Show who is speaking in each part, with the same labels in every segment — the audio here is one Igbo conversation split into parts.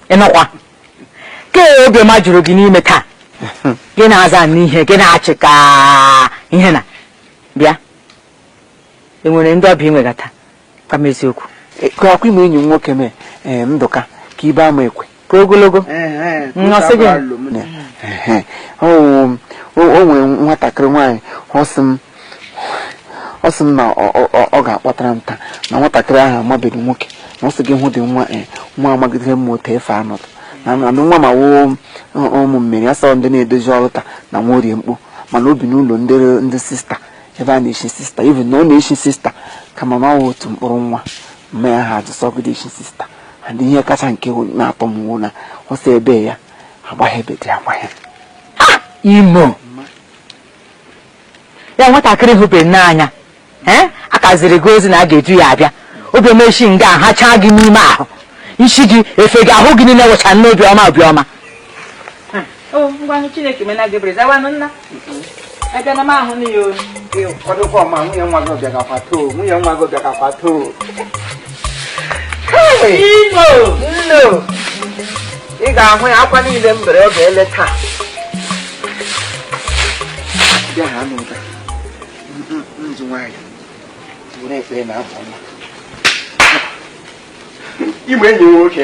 Speaker 1: ịnụkwa ka obiọma juru gị n'ime taa gị na-azanụ ihe gị na-achị ka ihe na bịa i nwere ndị ọbịa ị nwegata ka m eziokwu ka akwa ime
Speaker 2: enyi m nwoke mee ee ndụka ka ibe ama ekwe ka
Speaker 1: ogologo Nnọsị gị. Ehe.
Speaker 2: o o- o nwere nwatakịrị nwaanyị ọ sị m ọ sị m na ọ- ọ ọ- ọ ga-akpọtara m taa na nwatakịrị ahụ amabeghị nwoke na ọ sị gị hụ dị nwa ee nwa amagidere m otu efe anọdụ na na nwa ma wụ ụmụ Mary asọ ndị na-edozi altar na nwa orie mkpu mana o bi n'ụlọ ndị ndị sista ebe a na-echi sista even na ọ na-echi sista kama na ọ wụ otu mkpụrụ nwa mama ya ha ajụ sị ọ gadị echi sista and ihe kacha nke na-atọ m wụ na ọ sị ebe ya agbaghị ebe dị agbaghị ah! imo
Speaker 1: ya nwatakịrị hụbeghị n'anya eh? aka ziri gị ozi na a ga-eju ya abịa obi ọma shi nga ha chaa gị n'ime ahụ isi gị efe gị ahụ gị niile wụcha n'obi ọma obi ọma o ngwanụ chineke meena gị ebere zawanụ nna abịa na m ahụ na ya ụnụ kwadokwa
Speaker 2: ọma nwunye nwa gị ọ bịagakwa taa nwunye nwa gị ọ bịagakwa
Speaker 1: taa ino nno
Speaker 2: ị ga-ahụ ya akwa niile m bere oge ele taa bịa ha n'ụda nzu nwaanyị were ekpere na afọ ọma ime enyi nwoke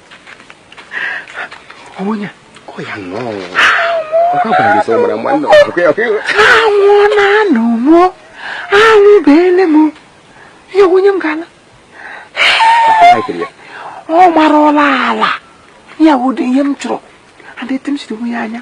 Speaker 2: onye ọ ya nnọọ anwụ na-anụ mụọ anwụ beele m ya onye m ga-ala ọ mara ọla ala ya ụdị ihe m chọrọ adịtị m siri onwe ya anya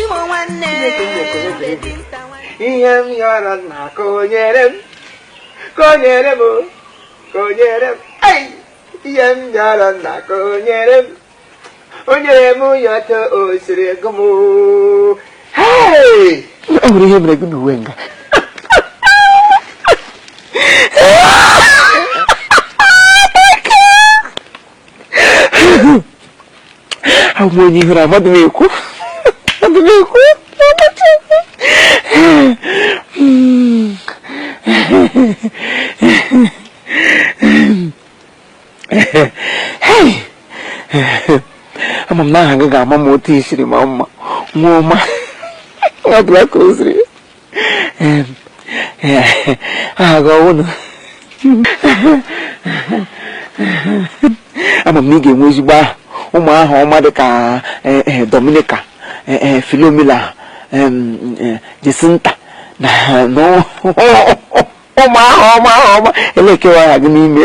Speaker 2: Imo nwanne ihe m yọrọ nna ka o nyere m ka o nyere m ka o nyere m ihe m yọrọ nna ka o nyere m o nyere m ya etu o siri gụ m o nwere ihe mere gị na uwe nga abụ m onye ihere amadị m ekwu amadị m ekwu ama m na aha gị ga-ama m otu i siri maa mma nwa ọma ọ bụla ka o ziri aha gị ọwụ na ama m na ị ga-enwe ezigbo aha ụmụ aha ọma dị ka eh, eh, Dominica eh, Philomena Jacinta na ụmụ aha ọma aha ọma elekewa aha gị n'ime